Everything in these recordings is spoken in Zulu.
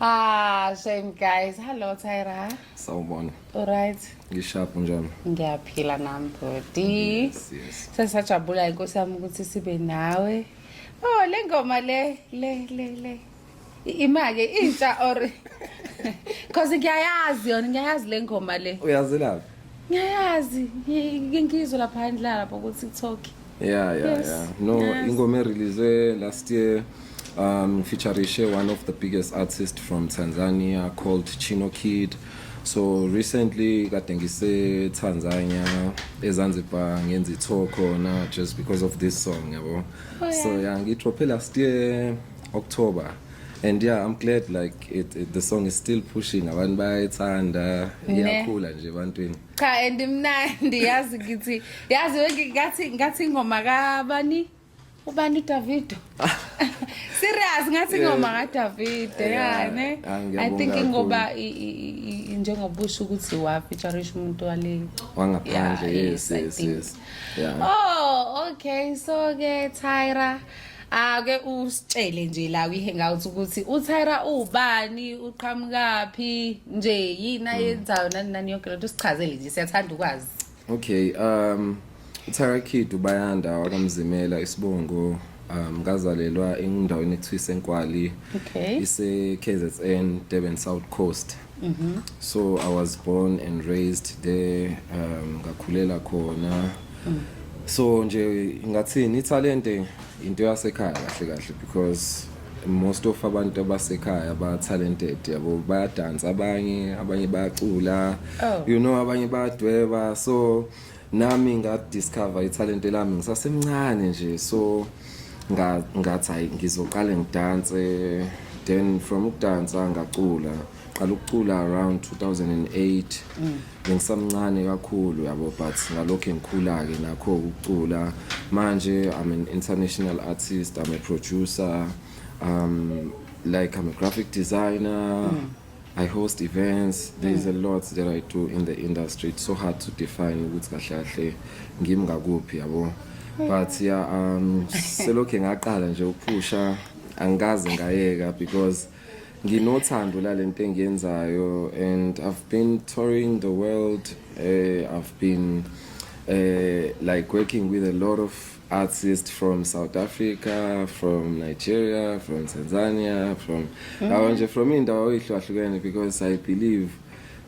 ah shame guys hello tyra sawubona alright ngishapu njani ngiyaphila nam body yes, yes. sesajabula inkosi yami ukuthi sibe nawe oh le ngoma le le le le imake intsha or cause ngiyayazi yona ngiyayazi le ngoma le uyazelaphi ngiyayazi ngizwe lapha ndlala lapha ku tiktok yeah yeah yes. yeah no yes. ingoma erelease last year um featurishe one of the biggest artists from tanzania called chino kid so recently kade ngisetanzania ezanzibar ngenza itho khona just because of this song yabo oh, yeah. so yeah ngidrophe last year october and yeah i'm glad like it, it, the song is still pushing abantu bayayithanda iyakhula nje ebantwini cha and imnandi yazi ngithi yazi ngathi ngathi ingoma kabani ubani udavido serious ngathi ingoma kadavido ya ne ah, i think ingoba njengoba usho ukuthi wafeaturisha umuntu wale wangaphandle yes yes yes yeah. oh okay so ke tyra ake usitshele nje la kwi-hangout ukuthi utyra ubani uqhamukaphi nje yini ayenzayo nani nani yonke lento sichazele nje siyathanda ukwazi okay um utyra kid ubayanda wakamzimela isibongo um ngazalelwa endaweni ekuthiwa isenkwali okay. ise-kzn durban south coast Mm -hmm. So I was born and raised there um ngakhulela khona. Mm. So nje ngathini italente into yasekhaya kahle kahle because most of abantu abasekhaya ba talented yabo bayadansa abanye abanye bayacula oh. you know abanye bayadweba so nami ngadiscover ithalente lami ngisasemncane nje so ngathi hayi ngizoqale ngidanse then from ukudansa ngacula qala ukucula around 2008 mm. bengisamncane kakhulu yabo but ngalokho engikhula-ke nakho ukucula manje i'm an international artist i'm a producer um like i'm a graphic designer mm. I host events. There is a mm. lot that I do in the industry. It's so hard to define ukuthi kahle kahle ngimi ngakuphi yabo. But yeah, um selokhe ngaqala nje ukuphusha angikaze ngayeka because nginothando lalento engiyenzayo and I've been touring the world. Uh, I've been uh, like working with a lot of artist from South Africa, from Nigeria, from Tanzania, from mm. awo nje from indawo eyihlukahlukene because I believe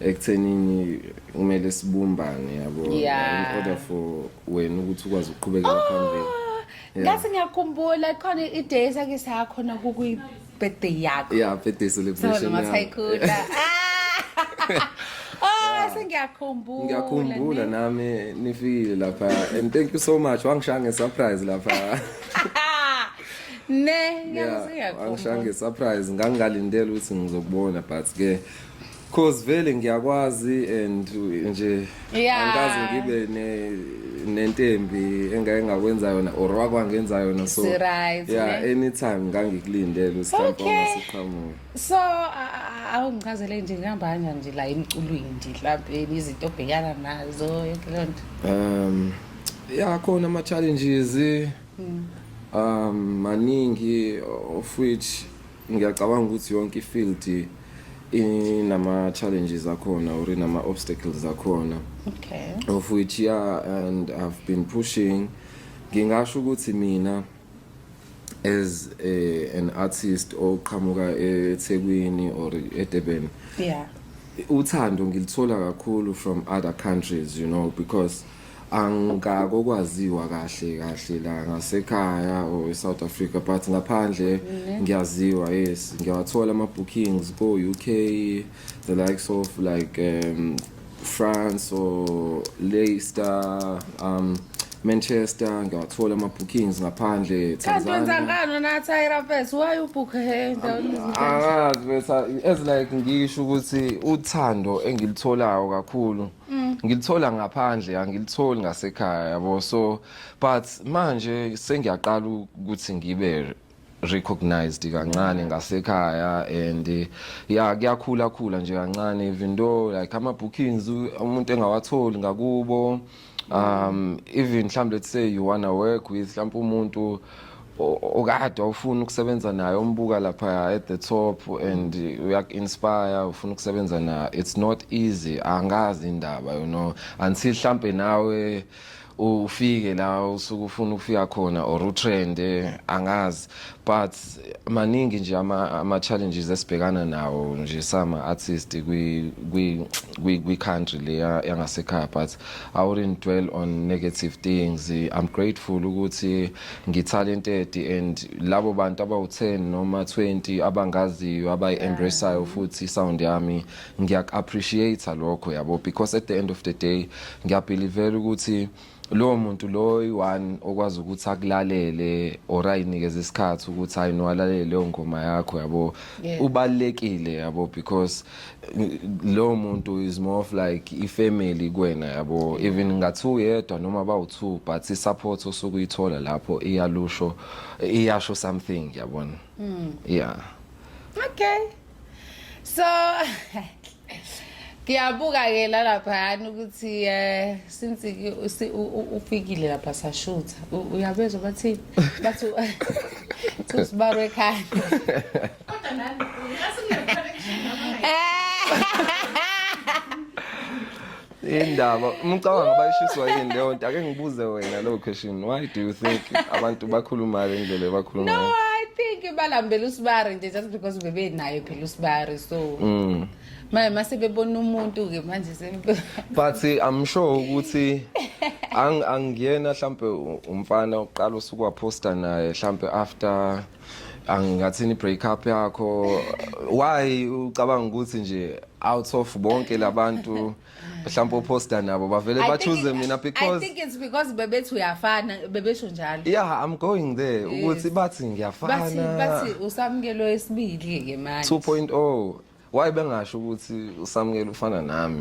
ekuthenini kumele sibumbane yabo yeah. in order for wena ukuthi ukwazi ukuqhubekela oh, phambili. Ngase ngiyakhumbula khona i-day sake sakhona kukuyi birthday yakho yeah birthday celebration noma sayikhula Oh sengiyakhumbula ngiyakhumbula nami nifikile lapha and thank you so much wangishaya nge surprise lapha ne ngiyakuziyakhumbula wangishaya nge surprise ngangingalindele ukuthi ngizokubona but ke Cause vele ngiyakwazi and nje Yeah. angikaze ngibe ne nentembi engake ngakwenza yona or wakwangenza yona so It's right, yeah ne? anytime ngangikulindele usihlamba Okay. ungasiqhamuki so a- a- awungichazele nje ngihambanga nje la emculweni nje mhlawumbe izinto obhekana nazo yonke leyo nto um ya khona ama challenges um maningi of which Ngiyacabanga ukuthi yonke ifield inama challenges akhona or inama obstacles akhona. Okay. Of which yeah and I've been pushing ngingasho ukuthi mina as a, an artist oqhamuka eThekwini or eDurban. Yeah. Uthando ngilithola kakhulu from other countries you know because angakokwaziwa kahle kahle la ngasekhaya or eSouth Africa but ngaphandle ngiyaziwa yes ngiyawathola ama bookings ko UK the likes of like um, France or Leicester um Manchester ngiyawathola ama bookings ngaphandle kanti wenza Tanzania ngani na Tyra Fest why you book her endaweni angazi besa as like ngisho ukuthi uthando engilitholayo kakhulu Mm. ngilithola ngaphandle angilitholi ngasekhaya yabo so but manje sengiyaqala ukuthi ngibe recognized kancane ngasekhaya and eh, ya kuyakhula khula nje kancane even though like ama bookings umuntu engawatholi ngakubo um even mhlawumbe let's say you wanna work with mhlawumbe umuntu okade awufuni ukusebenza naye umbuka lapha at the top and uyaku-inspire ufuna ukusebenza naye it's not easy angazi indaba you know until hlampe nawe ufike la usuke ufuna ukufika khona or utrende angazi but maningi nje ama-challenges esibhekana nawo nje sama-artist kwi-country le yangasekhaya but I wouldn't dwell on negative things. I'm grateful ukuthi ngitalented and labo bantu abawu-10 noma 20 abangaziyo abayi-embraceayo futhi sound yami ngiyak-appreciate lokho yabo because at the end of the day ngiyabhilivela ukuthi lowo muntu lowo i-one okwazi ukuthi akulalele or ayinikeze isikhathi ukuthi hayi no alalele leyo ngoma yakho yabo ubalulekile yabo because lowo muntu is more of like ifamily kwena yabo even ngathi uyedwa noma bawu-two but i-support osuke uyithola lapho iyalusho iyasho something yabona mm. yeah okay so ngiyabuka ke la laphayana ukuthi um since ufikile lapha sashutha uyabezwa bathi bathi usibarwe ekhanda Kodwa nani asingekho indaba umcabanga bayishiswa yini leyo nto ake ngibuze wena leyo question why do you think abantu bakhuluma le ndlela ebakhuluma no ngayo? i think balambela usibari nje just because bebenayo phela usibari so Mm. manje mase bebona umuntu ke manje sempe but eh, i'm sure ukuthi ang- angiyena mhlampe u- umfana oqala usuku waposta naye mhlampe after angingathini break up yakho why ucabanga ukuthi nje out of bonke labantu mhlawumbe oposter nabo bavele ba choose mina because I think it's because bebethi uyafana bebesho njalo yeah i'm going there ukuthi bathi ngiyafana bathi bathi usamkelo esibili ke manje 2.0 why bengasho ukuthi usamukela ufana nami